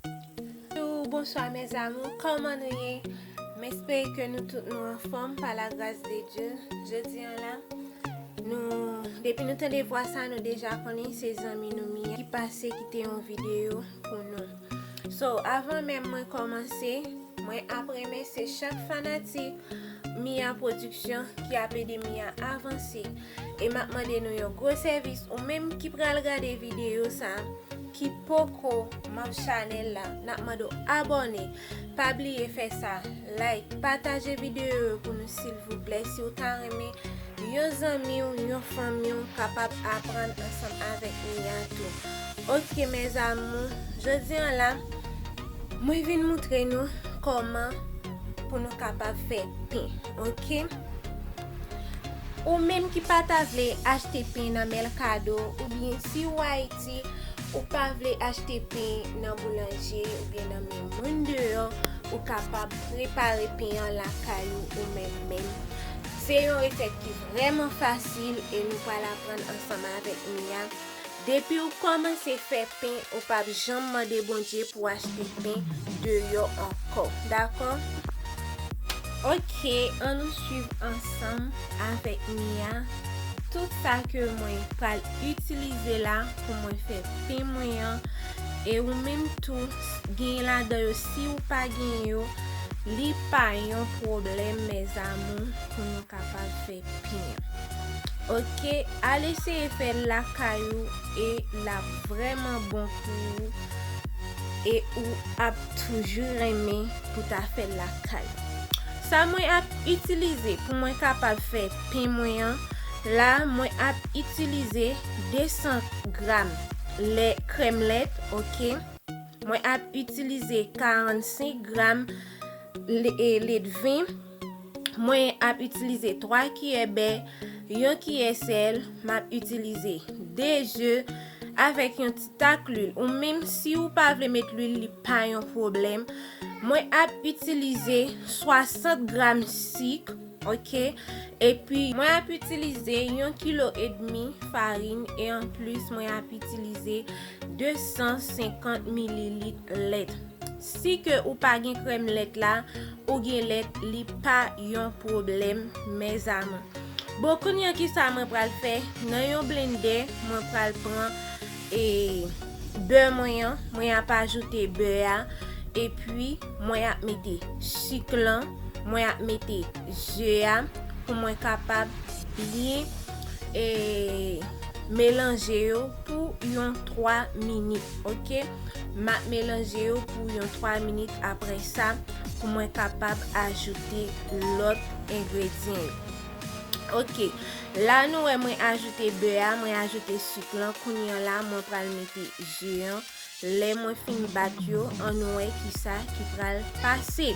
Bonjou, bonswa mè zamou, kòman nou ye? M espere ke nou tout nou anfòm pa la gras de Dye. Jodi an la, nou, depi nou tande vwa sa nou deja konnen se zanmi nou Miyè ki pase kite yon videyo pou nou. So, avan menm mwen kòmanse, mwen ap remèsye chak fanatik Miyè Production ki ap ede Miyè avanse. E map mande nou yon gwo sèvis ou menm ki pral gade videyo sa ki poko manb chanèl la nap mande w abòne pa bliye fè sa like pataje videyo yo pou nou silvouplè si w ta renmen yon zanmi w yon fanmi w kapab aprann ansanm avèk Mia tou ok mes amour jodi an la mwen vin moutre nou kòman pou nou kapab fè pen. Ok Ou menm ki pa ta vle achte pen nan mèlkado oubyen si ou Ayiti ou pa vle achte pen nan boulanje oubyen nan men moun deyò ou kapab prepare pen an lakay ou ou menm menm se yon resèt ki vrèman fasil e nou pral aprann ansanm avèk Mia Depiw kòmanse fè pen ou pap janm mande Bondye pou achte pen deyò ankò dakò ok an nou swiv ansanm avèk Mia tout sa ke mwen pral itilize la pou mwen fè pen mwen an e ou menm tou genyen ladan yo siw pa genyen yo li pa yon pwoblèm mes amour pou nou kapab fè. pen an ok al eseye fèl lakay ou e lap vrèman bon pou ou e ou ap toujou renmen pou ta fèl lakay ou sa mwen ap itilize pou mwen kapab fè pen mwen an la mwen ap itilize 200 gram lè krèm lèt ok mwen ap itilize 45 gram ledven. mwen ap itilize 3 kiyè bè, yon kiyè sèl, m ap itilize 2 ze avèk yon ti tak lwil ou menm si ou pa vle met lwil li pa yon pwoblèm mwen ap itilize 60 gram sik ok epi mwen ap itilize yon kilo edmi farin e anplis mwen ap itilize 250 mililit lèt. Si ke ou pa gen krèm lèt la ou gen lèt li pa yon pwoblèm mes amour. Bon kounya kisa mwen pral fè nan yon blendè mwen pral pran e bè mwen an mwen ap ajoute bè a epi mwen ap mete sik lan mwen ap mete ze a pou mwen kapab byen e melanje yo. pou yon 3 minit ok map melanje yo pou yon 3 minit apre sa pou mwen kapab ajoute lot engredyen yo ok la nou wè mwen ajoute bè a mwen ajoute suk lan kounye la mwen pral mete je an Lè mwen fin bat yo ann wè kisa ki pral pase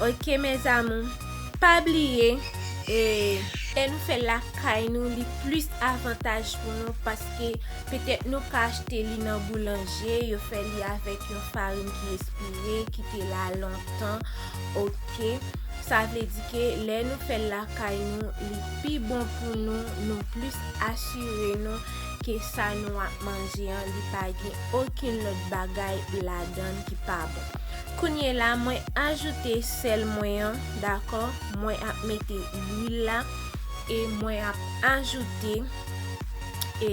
ok mes amours pa bliye e. Lè nou fèl lakay nou li plis avantaj pou nou paske petèt nou ka achte li nan boulanje yo fè li avèk yon farin ki espire ki te la lontan ok sa vle di ke lè nou fèl lakay nou li pi bon pou nou nou plis asire nou ke sa nou ap manje an li pa gen okenn lòt bagay ladann ki pa bon. Kounye la mwen ajoute sèl mwen an dakò, mwen ap mete lwil la e mwen ap ajoute e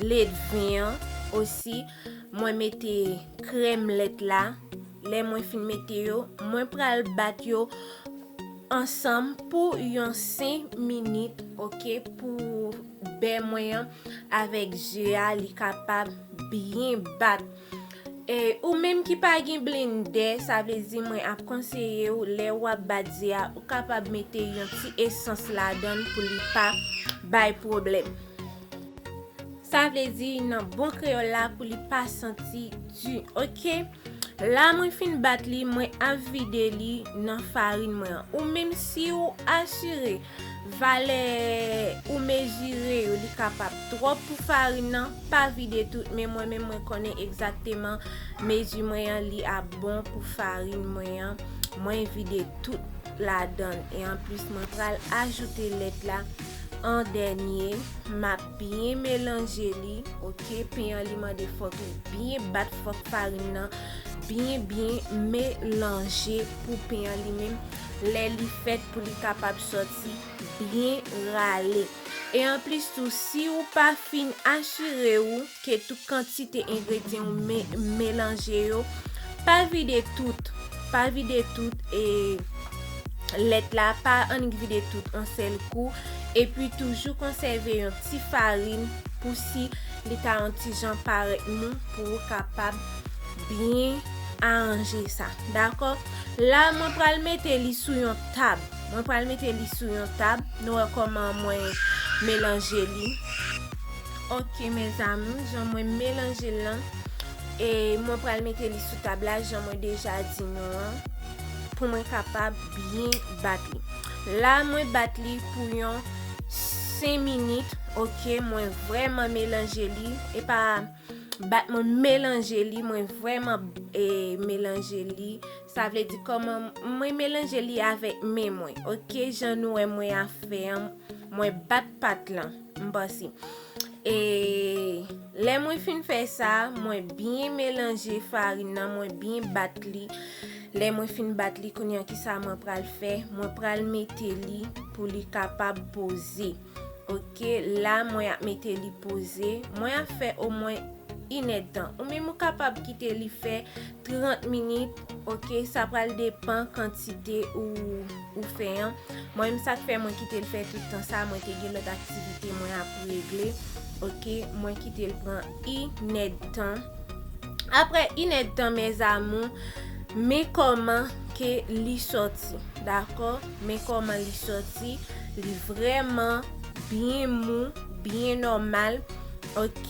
ledven an osi mwen mete krèm lèt la. Lè mwen fin mete yo, mwen pral bat yo ansanm pou yon 5 minit ok pou bè mwen an avèk ze a li kapab byen bat. E ou menm ki pa gen blendè, sa vle di mwen ap konseye ou lè ou ap bat ze a, ou kapab mete yon ti esans ladan l pou li pa bay pwoblèm. Sa vle di nan bon kreyòl la pou li pa santi di ok. La mwen fin bat li mwen ap vide li nan farin mwen an ou menm si ou asire valè ou mezire yo li kapab twòp pou farin nan pa vide tout men mwen menm mwen konnen egzakteman mezi mwen an li ap bon pou farin mwen an mwen vide tout ladann e anplis mwen pral ajoute lèt la an dènye map Byen melanje li ok pen an li mande fok li byen bat fok farin nan byen byen melanje pou pen an li menm lè li fèt pou li kapab soti byen rale e anplis tou si ou pa fin asire ou ke tout kantite engredyen ou melanje yo pa vide tout pa vide tout e lèt la pa annik vide tout an sèl kou epi toujou konsève yon ti farin pou si li ta yon ti jan parèt mou pou ou kapab byen aranje sa dakò la mwen pral mete li sou yon tab mwen pral mete li sou yon tab nou wè kòman mwen melanje li ok mèzami jan mwen melanje lan e mwen pral mete li sou tab la jan mwen deja di nou an pou mwen kapab byen bat li la mwen bat li pou yon 5 minit ok mwen vreman melanje li e pa bat mwen melanje li mwen vreman e melanje li sa vle di koman mwen melanje li avek men mwen ok jan nou e mwen a fè an mwen bat pat lan M panse. E lè mwen fin fè sa, mwen byen melanje farin nan, mwen byen bat li. Lè mwen fin bat li, kounye an ki sa mwen pral fè? Mwen pral mete li pou li kapab poze. Ok, la mwen ap mete li poze. Mwen ap fè o mwen inèd tan. Ou menm ou kapab kite li fè. 30 minit ok sa pral depan kantite ou fè an mwen menm sak fè mwen kitel fè tout tan sa mwen te gen lòt aktivite mwen ap regle ok mwen kitel pran inèdtan aprè inèdtan mèzamou men kòman ke li sòti dakò men kòman li sòti li vrèman byen mou byen nòmal ok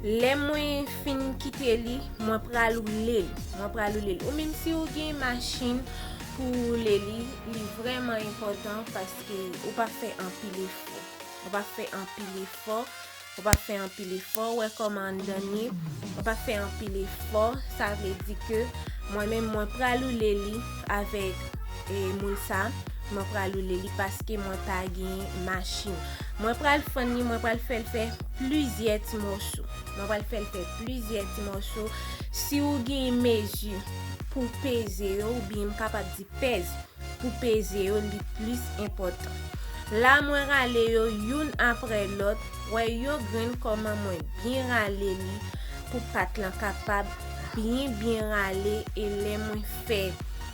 lè mwen Fin kite li mwen pral roule l mwen pral roule l ou menm si ou gen machin pou roule li li vrèman enpòtan paske ou pa fè anpil efò ou pa fè anpil efò ou pa fè anpil efò ou wè kòman anndan l ye ou pa fè anpil efò sa vle di ke mwen menm mwen pral roule li avèk e moul sa mwen pral roule li paske mwen pa gen machin mwen pral fann li mwen pral fè l fè plizyè ti mòso. Mwen pral fèl fè plizyè ti mòso. Si ou gen mezi pou peze yo ou byen m kapab di pèz pou peze yo li plis enpòtan. La mwen rale yo youn aprè lòt. Wè yo grenn kòman mwen byen rale li pou pat lan kapab byen byen rale e lè mwen fè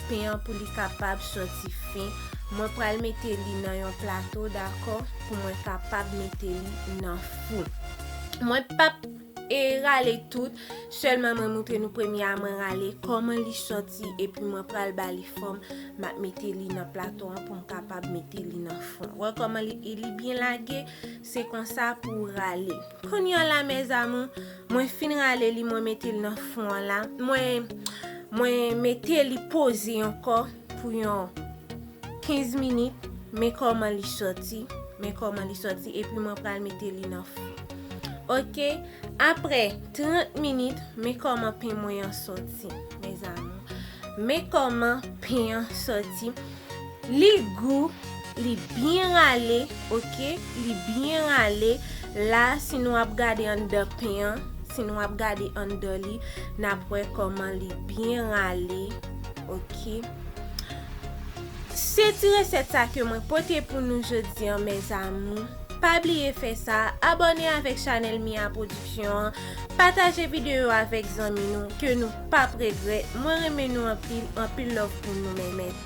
pen an pou li kapab sòti fen. Mwen pral mete li nan yon plato dakò pou mwen kapab mete li nan. fout. Mwen pap e rale tout, selman mwen moutre nou premye a mwen rale koman li soti epi mwen pral ba li fòm map mete li nan plato an poum kapab mete li nan fon. Wè koman li e li byen lage, se konsa pou ou rale. Konnya la mes amour, mwen fin rale li mwen mete li nan fon an la, mwen mwen mete li poze ankò. pou yon 15 minit men kòman li sòti men kòman li sòti epi mwen pral mete li nan fou ok apre 30 minit men kòman pen mwen an sòti men kòman pen an sòti li gou li byen rale ok li byen rale la si nou ap gade anndan pen an si nou ap gade anndan li nap wè kòman li byen rale Ok Se ti resèt sa ke mwen pote pou nou jodi an mes amours Pa bliye fè sa Abòne avèk chanèl Mia production an Pataje videyo yo avèk zanmi nou Ke nou pap regrèt Mwen renmen nou anpil Anpil love pou nou mèmèt.